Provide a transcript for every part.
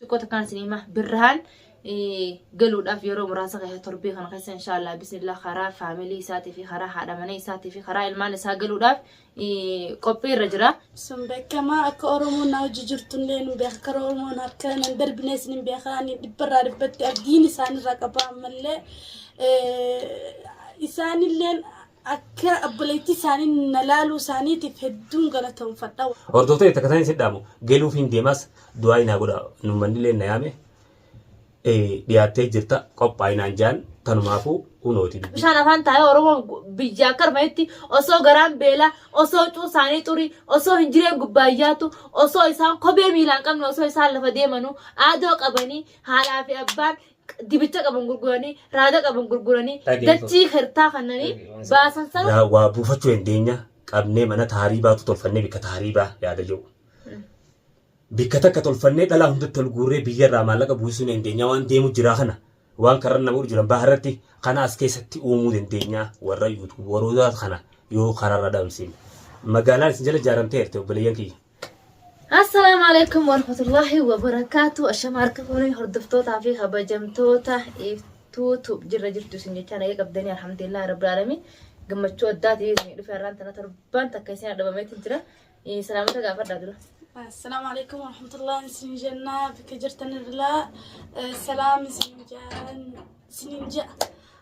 xiqqoo takkaan isin hima birrahaan galuudhaaf yeroo muraasa keessa torbee kana keessa inshaallah bismillah karaa faamilii isaatii fi karaa haadha manee isaatii fi karaa ilmaan isaa galuudhaaf qophii irra jira. Sun beekamaa akka Oromoon na hojii jirtullee nu beeka akka Oromoon harka nan darbinee isin hin beeka ani dhibbarraa dhibbatti abdiin isaanirraa qaba ammallee isaanilleen Akka obboleettii isaanii na laaluu isaaniitiif hedduun galatoomfadha. Hordoftoota takka isaan isin dhaamu galuufiin deemaas du'aa inaa godha nummannillee na yaame dhiyaattee jirta qophaa'inaan jaan tanumaafuu hunooti. Bishaan afaan taa'ee Oromoo biyya akka armanetti osoo garaan beelaa, osoo cuun isaanii xurii, osoo hin jireen gubbaayyaatu, osoo isaan kophee miilaan qabne, osoo isaan lafa deemanuu aadoo qabanii haadhaa fi abbaan dibicha qaban gurguranii raada qaban gurguranii Dhageeffatu. dachii hirtaa kannanii Dhageeffatu. baasan sana Yaa waa buufachuu dandeenya qabnee mana taariibaatu tolfannee bikka taariibaa yaada jiru. Bikka takka tolfannee dhalaa hundatti ol guurree biyyarraa maallaqa buusisuu ni dandeenya waan deemu jiraa kana waan karra nama godhu jiran baharratti kana as keessatti uumuu dandeenya warra yuutuubaroota kana yoo kararra dhabamsiin. Magaalaan isin jala ijaaramteerti obboleeyyan kiyya. Assalaamu alaikum warahmatullahi wabarakaatu. Ashama harka fuunii hordoftootaa fi kabajamtoota iftuu tuub jirra jirtu isin jechaa nagee qabdanii alhamdulillah rabbi alami gammachuu addaati isin dhufe har'aan tana torbaan takka isin dhabameetti jira. Salaamota gaafadhaa dura. Assalaamu alaikum warahmatullahi isin jennaa bakka jirtan irraa salaam isin jaan isin ja'a.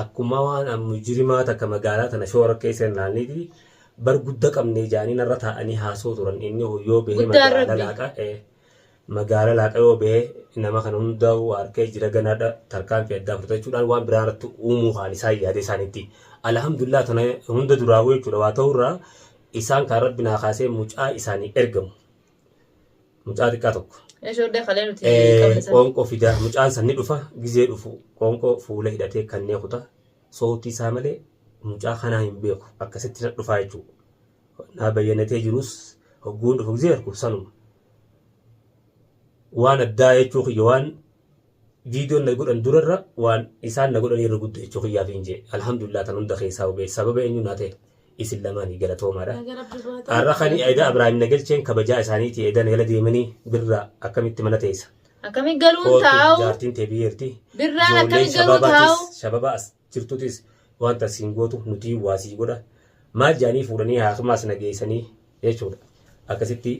Akkuma waan an mujirimaa takka magaalaa tana shoora keessa hinnaanniiti bar gudda qabnee jaanii narra taa'anii haasoo turan inni kun yoo bahee Guddaan magaala rabbi. laaqa eh, magaala laaqa yoo bahee nama kana hundaa waarkee jira ganaadha tarkaanfii addaa fudhatachuudhaan waan biraa irratti uumuu kaan isaan yaade isaanitti alhamdulillah tana hunda duraafuu jechuudha waa ta'urraa isaan kaan rabbi naa kaasee mucaa isaanii ergamu Mucaa xiqqaa tokko. Shoodda kalee nuti qabne sana. Qoonqoo fidaa mucaan san ni dhufa gizee dhufu qoonqoo fuula hidhatee kannee kuta sootii isaa malee mucaa kanaa hin beeku akkasitti na dhufaa jechuudha. Naa bayyanatee jirus hogguun dhufu gizee argu sanuma. Waan addaa jechuu kiyya waan viidiyoon na godhan durarra waan isaan na godhanii irra gudda jechuu kiyyaafiin jee alhamdulillah tan hunda keessaa hubee sababa eenyu naa ta'e isin lamaanii galatoomaadha. Naga rabbi baate. Har'a kan edaa Abiraahim na galcheen kabajaa isaaniiti edaa nagala deemanii birra akkamitti mana teessa. Akkami galuun kootu taa'u? jaartiin tee biyyeerti Birraan Ijoolleen akkami garuu shabaabaatis, taa'u? shababa as jirtutis waan tan siin gootu nutii waa sii godha maal jaanii fuudhanii haakimaas na geessanii jechuudha akkasitti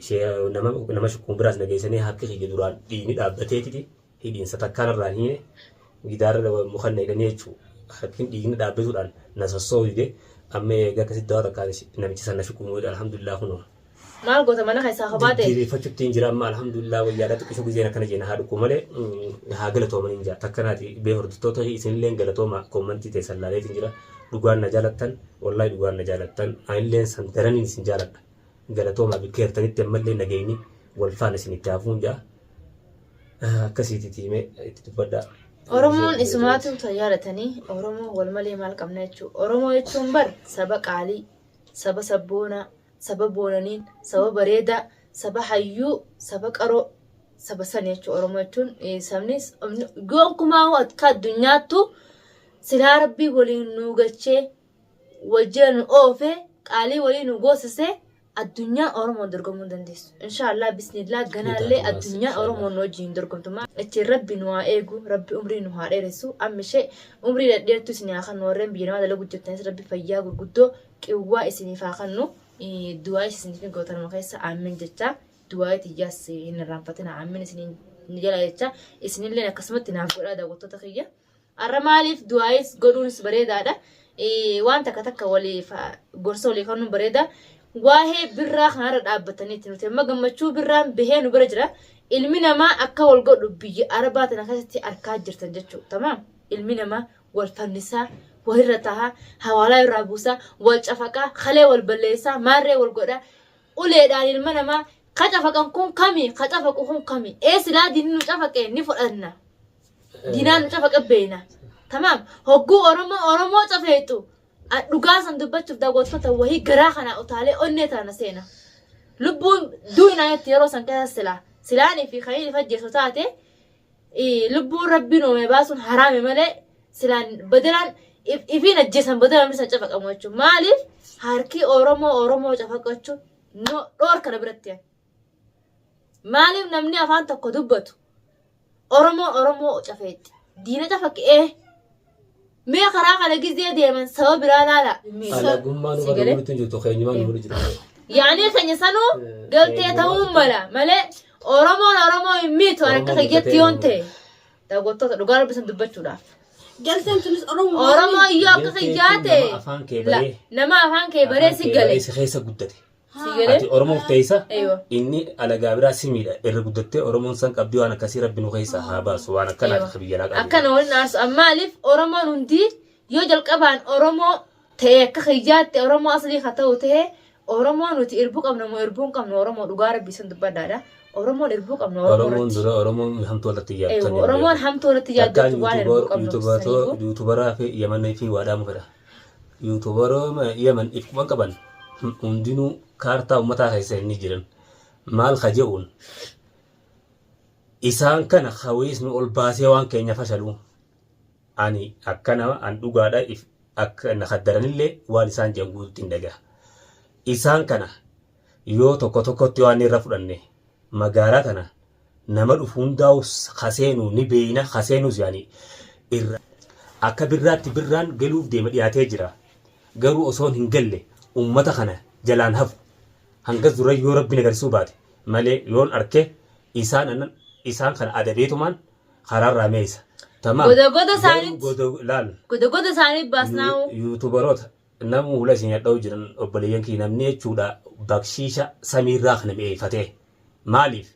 nama nama shukkuun biraas na geessanii harki kiyya duraan dhiigni dhaabbateetiti hidhiinsa takkaan irraan hiine gidaara mukan na hidhanii jechuu harkin dhiigni dhaabbatuudhaan na sossooyde amma eega akkasitti dawaa takkaan namichi san na shukkuun godhe alhamdulillah kunoo. Maal goota mana keessaa kophaa ta'e? Jijjiireffachuttiin jira amma alhamdulillah wayyaadha xiqqishu gizeen akkana jeena haa dhukku malee haa galatooman hin jaa takka naati bee hordoftoota isinillee galatooma koommantii ta'e sallaaleetiin jira dhugaan na jaalattan wallahi dhugaan na jaalattan anillee san daraniin isin jaaladha galatoomaa bikka hirtanitti ammallee nageenyi wal faana isin itti hafuun jaa akkasiitii tiimee itti dubbadhaa. Oromoon isumaatu ta jaalatanii Oromoo wal malee maal qabna jechuudha. Oromoo jechuun bar saba qaalii, saba sabboonaa, saba boonaniin saba bareedaa saba hayyuu saba qaroo saba sani jechuun oromoo jechuun sabni gonkumaa akka addunyaattu silaa rabbii waliin nu galchee wajjira nu oofee qaalii walii nu goosisee addunyaa oromoon dorgomuu dandeessu inshaallah bismillah ganaallee addunyaa oromoon wajjin dorgomtummaa achiin rabbi nu haa eegu rabbi umrii nu haa dheeressu ammishee umrii dhadheertu isin haa kan warreen biyya namaa dalagu jirtanis rabbi fayyaa gurguddoo Quwwaa isiniif haa kannu. Du'aayis isiniif ni gootanuma keessa aammin jecha. Du'aayii tiyyaas hin irraanfatina aammin isiniin ni jala jecha. Isinilleen akkasumatti naaf godhaa daawwattoota kiyya. Har'a maaliif du'aayis godhuunis bareedaadha. Waan takka takka waliif gorsa walii kannuun bareeda. Waa'ee birraa kanarra dhaabbataniiti nuti amma gammachuu birraan bahee nu bira jira. Ilmi namaa akka wal godhu biyya arabaa tana keessatti arkaa jirtan jechuudha. Tamaam ilmi namaa wal fannisaa, walirra tahaa, hawaalaa irraa buusaa, wal cafaqaa, kalee wal balleessaa, maarree wal godhaa, uleedhaan ilma namaa ka cafaqan kun kami, ka cafaqu kun kami, ee silaa diinni nu cafaqe ni fudhanna. Diinaan nu cafaqe beeyna. Tamaam, hogguu Oromoo Oromoo cafeexu, a- dhugaa san dubbachuuf daawwattoota wahii garaa kanaa utaalee onnee taana seena. Lubbuun duu'inaa jetti yeroo san keessa silaa. Silaanii fi kanii fajjeessu taate lubbuu rabbiin uumame baasuun haraame malee silaan badalaan ifiin ajjeesan badalaan isaan cafaqamu jechuudha. Maaliif harkii Oromoo Oromoo cafaqachuu dhoor kana biratti yaa. Maaliif namni afaan tokko dubbatu Oromoo Oromoo cafeetti diina cafaqee Mee karaa kana gizee deeman sababa biraa laala. Alagummaa nu Sagalee? barbaaduu jirtu keenyumaa nu barbaaduu jirtu. Yaanii keenya sanuu galtee ta'uu mala malee Oromoon Oromoo hin miitu ani akka kiyyatti yoon ta'e daawwattoota dhugaa rabbisan dubbachuudhaaf. Galteen tunis Oromoo. Oromoo yoo akka kiyyaa ta'e Nama afaan kee la- baree. nama afaan kee baree si galee. Si keessa guddate. Sii galee? Ati Oromoof teessa Eeywa. inni alagaa biraa si miidha irra guddattee Oromoon san qabdii waan akkasii rabbi nu keessaa haa baasu waan akkanaa akka biyya alaa qabdu. Akkana waliin aarsu. Maaliif Oromoon hundi yoo jalqabaan Oromoo ta'e akka kiyyaatti Oromoo aslii haa ta'u ta'e Oromoo nuti irbuu qabna moo irbuu hin qabnu Oromoo dhugaa rabbii sun dubbadhaadha. Oromoon irbuu qabna Oromoo Oromoon irratti. dura Oromoon hamtuu irratti Eeywa, yaaddu. Oromoon hamtuu irratti yaaddattu waan irbuu qabnu. Yuutubaraa fi Yamanee fi waadhaa mufedha. Yuutuubarooma Yemen if quban qaban hundinuu kaartaa ummataa keessa hin jiran. Maal ka je'uun isaan kana kawees nu ol baasee waan keenya fashaluu. Ani akka nama an dhugaadha if akka na kaddaranillee waan isaan je'an guututti hin dhagaha. Isaan kana yoo tokko tokkotti waan irra fudhanne magaalaa tana nama dhufu hundaa'u ka seenu ni beeyna ka seenus yaani irra akka birraatti birraan galuuf deema dhiyaatee jira garuu osoon hin galle ummata kana jalaan hafu hangas dura yoo rabbiin agarsuu baate malee yoon arke isaan anan isaan kana adabeetumaan karaarraa meeysa tamaam Goda goda garuu saanit. goda laal Goda goda saanit baasnaa. yuutubaroota Namuu hula isin hadha'u jiran obboleeyyan kiyya namni jechuudha bakshiisha samiirraa kana mi'eeffatee maaliif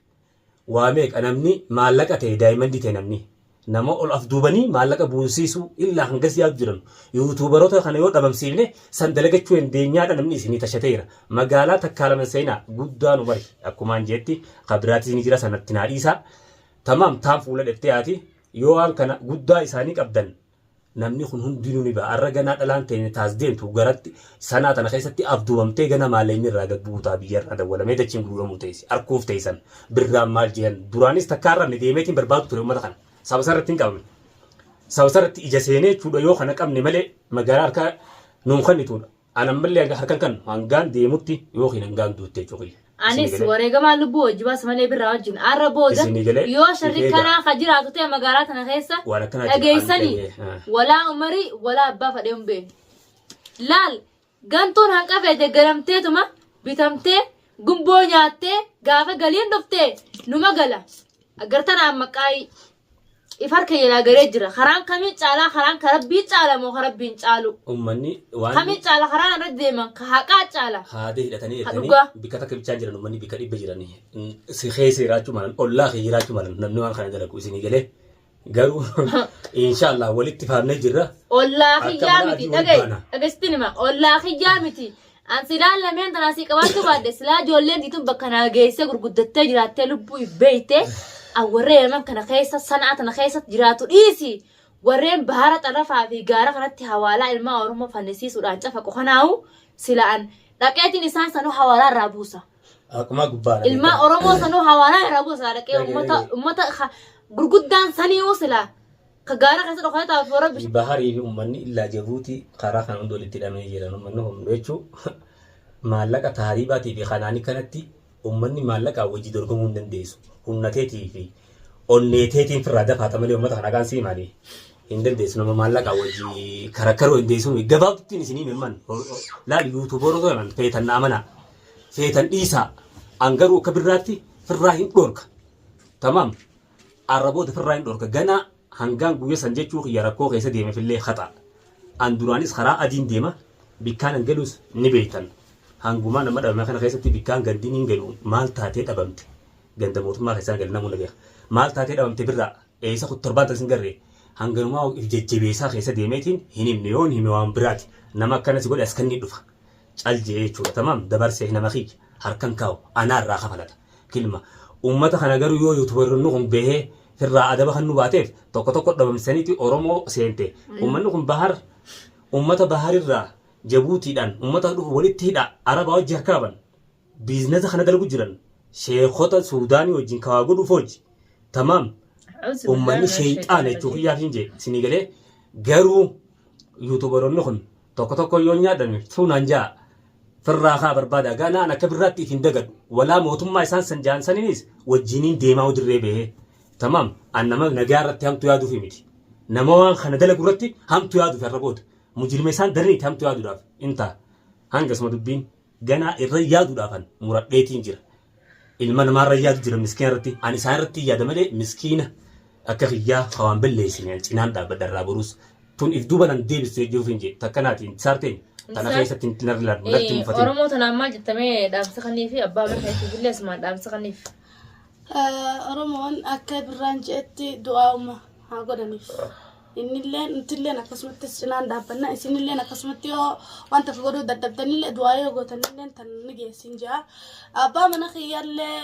waa meeqa namni maallaqa ta'e daayimandii ta'e namni nama ol af duubanii maallaqa buunsiisuu illaa hangas yaadu jiran yuutuubaroota kana yoo dhabamsiifne san dalagachuu dandeenyaadha namni isinii tashateera magaalaa takkaa laman seenaa guddaan umari akkumaan jeetti kabiraatis ni jira sanatti naa dhiisaa tamaam taan fuula dheftee haati yoo waan kana guddaa isaanii qabdan Namni kun hundinuu ni ba'a. Arra ganaa dhalaan teenya taas deemtu garatti sanaa tana keessatti abdumamtee gana maalee inni irraa gad bu'uutaa biyya irraa dawwalamee dachiin guuramuu teessi. Arkuuf teessan birraan maal jehan duraanis takkaa arrabne deemeetiin barbaadu ture uummata kana. Saba sarratti hin qabamne. Saba sarratti ija seenee jechuudha yoo kana qabne malee magaalaa harkaa nuun kannituudha. An ammallee hanga harkan kan hangaan deemutti yookiin hangaan duutte jechuu kiyya. Anis wareegamaa lubbuu wajji baasa malee birraa wajjin har'a booda yoo sharri kanaa ka jiraatu ta'e magaalaa tana keessa dhageessanii walaa umarii walaa abbaa fadhee hin beekne. Laal gantuun hanqafee deggaramteetuma bitamtee gumboo nyaattee gaafa galiin dhuftee numa gala. Aggartana amma qaayii. ifar keenya naa garee jira karaan kamiin caalaa karaan ka rabbii caala moo ka rabbiin caalu ummanni waan kamiin caala karaan irra deeman ka haqaa caala haadee hidhatanii Ha erganii dhugaa. bikka takka bichaan jiran ummanni bikka dhibba jiranii Mm, si keessa jiraachuu malan ollaa kee jiraachuu malan namni waan kana dalagu isinii galee garuu inshaallah walitti faamnee jirra ollaa Akka kiyyaa mana miti adii wal dhagaye baana. dhagesitini ma ollaa kiyyaa miti An silaa lameen tanaa sii qabaachuu baadhe silaa ijoolleen tiitun bakka naa geessee gurguddattee jiraattee lubbuu if beeyte an warree yaman kana keessa sanaa tana keessatti jiraatu dhiisi warreen baara xarafaa fi gaara kanatti hawaalaa ilmaa oromoo fannisiisuudhaan cafaqu kanaahu sila an dhaqeetiin isaan sanuu hawaalaa irraa buusa Akkuma gubbaa dhabe. ilmaa oromoo sanuu hawaalaa irraa buusa silaa dhaqee Dhaqee, ummata dhaqee. ummata ha- gurguddaan saniihu silaa Ka gaara keessa dhokatee taa'uuf warra bishaan. Baharii fi uummanni illaa Jabuutii karaa kana hundi walitti hidhamee jira. Uummanni kun jechuu maallaqa taariibaatii fi kanaanii kanatti uummanni maallaqaa wajji dorgomuu hin dandeessu. Humna teetii fi onnee teetiin firraa dafaata malee uummata kana kaan siimaanii hin dandeessu. Nama maallaqaa wajji karakkaruu hin dandeessu. Gabaabduttiin isinii mirman laal yuutuuboorota kanaan feetan naamanaa feetan dhiisaa an garuu akka birraatti firraa hin dhoorka. Tamaam. Arraboota ifirraa hin dhorka. Ganaa hangaan guyya san jechuu kiyya rakkoo keessa deemefillee khaxaa. An duraanis kharaa adiin deema, bikkaan an galus ni beeytan. Hangumaan amma dhabame kana keessatti bikkaan gandin hin galu maal taatee dhabamte? Ganda mootummaa keessaa hin galle namuu na beeka. Maal taatee dhabamte birraa? Eeysa khutte torbaan tana sin garree? Hanganumaa of if jajjabeeysaa keessa deemeetiin hin himne yoon hime waan biraati. Nama akkana si godhe as kanniin dhufa. cal je'ee jechuudha tamaam dabarsee nama kiyya harkan kaa'u anaa irraa kafalata kilma ummata kana garuu yoo yuutubaronni kun bahee firraa adaba kan nu baateef tokko tokko dhabamsaniiti oromoo seente ummanni kun bahar ummata baharirraa jabuutiidhaan ummata dhufu walitti hidha arabaa wajji harkaaban biiznesa kana dalgu jiran sheekota suudaanii wajjin kawaa godhuuf hojji tamaam ummanni sheeyxaana jechuu kiyyaaf hin jee sinii galee garuu yuutubaronni kun Tokko tokkoon yoon yaadame tuu naan ja'a. Firraa kaa barbaada ganaa an akka birraatti if hin dagadhu. Walaa mootummaa isaan san ja'an saninis wajjiiniin deemaa'uu dirree bahee. Tamam an nama nagayaa irratti hamtu yaaduufi miti. Nama waan kana dalagu irratti hamtu yaaduufi har'a booda. Mujirima isaan daran itti hamtu yaaduudhaaf in ta'a. Hangasuma dubbiin. ganaa irra yaaduudhaafan muradheetiin jira. Ilma namaa irra yaadu jira miskiina irratti. Ani isaan irratti yaada malee miskiina akka kiyyaa hawaan balleessine an cinaan dhaabbadha irraa boruus. Tun if duuba nan deebistu jechuuf hin jee. Takka naati hin saarteen. Tana Saar- keessatti hin narri laadhu. Natti hin Eh, mufatin. Oromoo tanaan maal jettamee dhaamsa kannii fi abbaa mana keessatti illee asumaan dhaamsa kanniif. Oromoon akka birraan je'etti du'aa'uma haa godhaniif. innillee nutilleen akkasumatti cinaan dhaabbanna isinilleen akkasumatti yoo wanta fi godhuu dadhabdanillee du'aa yoo gootanillee tan ni geessin jaa abbaa mana kiyyaallee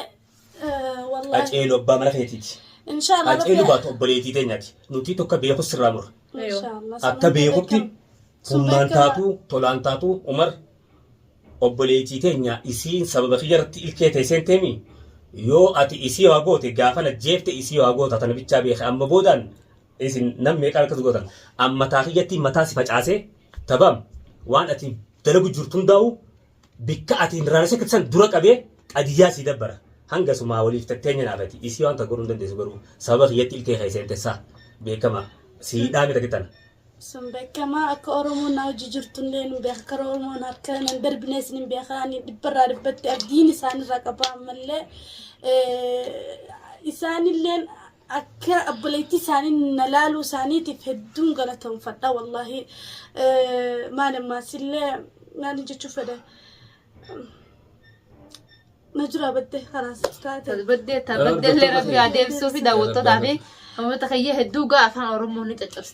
wallaahi Qaceelu abbaa mana keetiiti. inshaallah Qaceelu baatu obboleetii teenyaati. Nuti tokko beeku sirraa mura. inshaallah Akka beekutti humnaan beekama. taatu, tolaan taatu, Umar obboleetii teenya isiin sababa kiyya irratti ilkee ta'e seenteemi. Yoo ati isii waa goote gaafana jeefte isii waa goota tana bichaa beeka. Amma boodaan isin nam meeqaa akkas gootan an mataa kiyyattiin mataa si facaasee tabam waan ati dalagu jirtu hundaa'u bikka ati hin raaressa kitsan dura qabee qadiyyaa sii dabbara hanga sumaa waliif tatteenya naafati isii waan tokko hin dandeessu garuu sababa kiyyatti ilkee kee seentessaa beekama sii dhaame takitan Sun beekamaa akka Oromoon na hojii jirtu illee nu beeka. Karaa Oromoon harka nan darbinee isin hin beeka. Ani dhibbarraa dhibbatti abdiin isaanirraa qaba ammallee. eh, Isaanilleen Akka obboleettii isaanii na laaluu isaaniitiif hedduun galatoomfadha wallaahi maal ammaas illee maal jechuu fedha na jira baddee kanaas taate Baddee taa baddee illee rabbi haa deebisuu fi daawwattootaa fi hamoota kiyya hedduu gaa afaan oromoo ni caccabsa.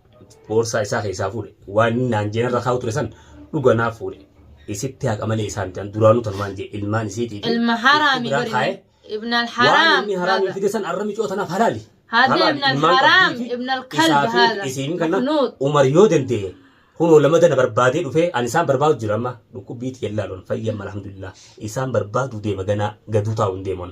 boorsaa isaa keessaa fuudhe waan inni naan jeen irra kaa'u ture san dhuga naaf fuudhe isitti haqa malee isaa miti an duraanuu tanumaan jee ilmaan isiitiifi ilma itti haraami biraa bari kaa'e ibn waan alharaam inni haraamii hada fide san arra micoo tanaaf halaali hada halaali ibn ilmaan alharaam qabdiifi ibn alkalb isaa fi hada isiin kana maknuud umar yoo danda'e kunoo lamadana barbaadee dhufee ani isaan barbaadu jira amma dhukkubbiiti yallaalon fayyamma alhamdulillah isaan barbaadu deema ganaa gaduu taa'u hin deeman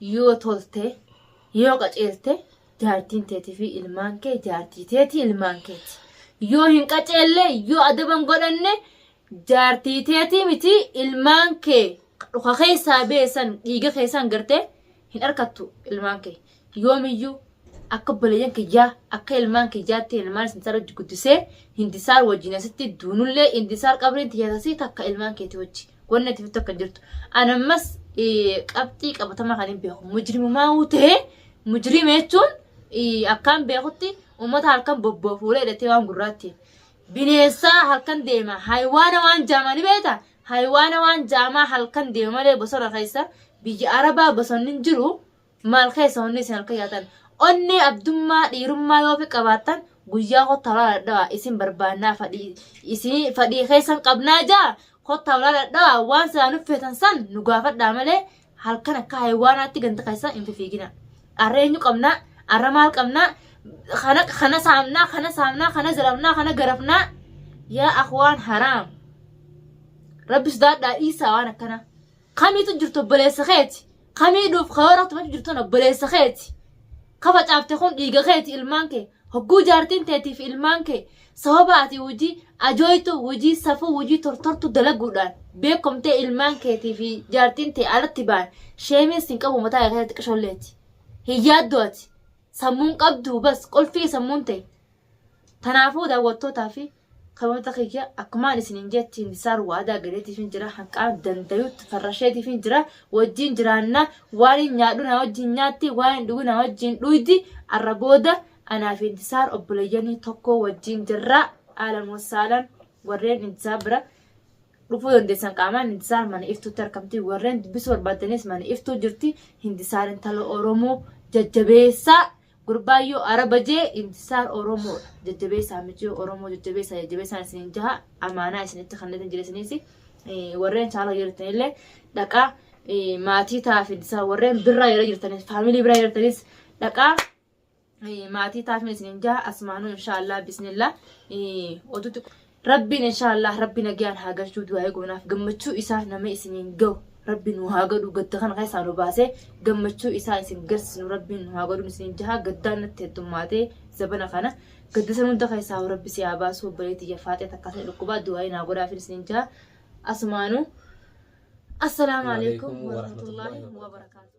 Yoo tolte, yoo qaceelte, jaartiin teetii fi ilmaan kee jaartii teetii ilmaan keeti. Yoo hin qaceelle, yoo adaban godhanne, jaartii teetii miti ilmaan kee dhuka keessaa beesan dhiiga keessaan gartee hin arkattu ilmaan kee. Yoomiyyuu Akka obboleeyyan kiyyaa, akka ilmaan kiyyaatti ilmaan isin irratti guddisee, Hindisaar wajjin asitti duunullee, Hindisaar qabriin tiyya tasii takka ilmaan keetii wajji. Wanni ati fittu akka hin jirtu. Ani ammas qabxii qabatamaa kan hin beeku. Mujrimumaa uu ta'ee, mujrima jechuun akkaan beekutti uummata halkan bobboo fuula hidhatee waan gurraatti. Bineensaa halkan deema. Haywaana waan jaamaa ni beekta. Haywaana waan jaamaa halkan deema malee bosona keessa biyya Arabaa bosonni hin jiru. Maal keessa onnee isin halkan yaatan? Onnee abdummaa dhiirummaa yoo fi qabaattan guyyaa kottaa ulaa dhadhawa isin barbaannaa fadhii isin fadhii keessan qabnaa jaa kottaa ulaa dhadhawa waan silaa nu feetan san nu gaafadhaa malee halkan akka haywaanaatti ganda keessan hin fifiigina. Arra eenyu qabnaa? Arra maal qabnaa? Kana kana saamnaa, kana saamnaa, kana zarafnaa, kana garafnaa. Yaa akwaan haraam. Rabbi sodaadhaa dhiisaa waan akkanaa. Kamiitu jirtu obboleessa keeti. Kamii duuf karoora tumachu jirtuun obboleessa keeti. Ka facaafte kun dhiiga keeti ilmaan kee. Hogguu jaartiin teetiif ilmaan kee sababa ati hojii ajooytu, hojii safuu, hojii tortortu dalaguudhaan beekomtee ilmaan keetii fi jaartiin tee alatti ba'an sheemiin sin qabu mataa kee keessatti qisholleeti. Hin yaaddu ati. Sammuun qabdu bas qulfii sammuun tee. Tanaafuu daawwattootaa fi Saboota kiyya akkumaan isiniin jettiin isaan waadaa galeetiifin jira hanqaan dandayutti farrasheetiifin jira wajjiin jiraanna waan hin nyaadhu naa wajjiin nyaatti waan hin dhugu naa wajjiin dhuydi arra booda anaa fi intisaar obboleeyyanii tokkoo wajjiin jirraa aalan wasaalan warreen intisaar bira dhufuu dandeessan qaamaan intisaar mana iftuutti argamti warreen dubbisuu barbaaddanis mana iftuu jirti hintisaar intala oromoo jajjabeessaa Gurbaayyoo araba jee imtisaar oromoo jajjabeessaa michuu oromoo jajjabeessaa jajjabeessaa isin jaha amaanaa isinitti kan isin jireessiniis warreen chaaloo jirtan illee dhaqaa maatii taafin isaa warreen birraa yeroo jirtanis faamilii biraa yeroo jirtanis dhaqaa maatii taafin isin jaha asmaanuu inshaallah bismillah oduutti Rabbiin inshaallah rabbi nagayaan haa galchuu du'aa eeguunaaf gammachuu isaa nama isiniin gahu rabbi nu haa godhu gadda kana keessaa nu baasee gammachuu isaa isin garsisnu rabbiin nu haa godhu isiniin jahaa gaddaan natti heddummaatee zabana kana gadda san hunda keessaa rabbi si haa baasuu obboleetti jafaatee takka ta'e dhukkubaa du'aa naa godhaa fi isiniin jahaa asumaanuu assalaamu alaikum warahmatullaahi wabarakaatu.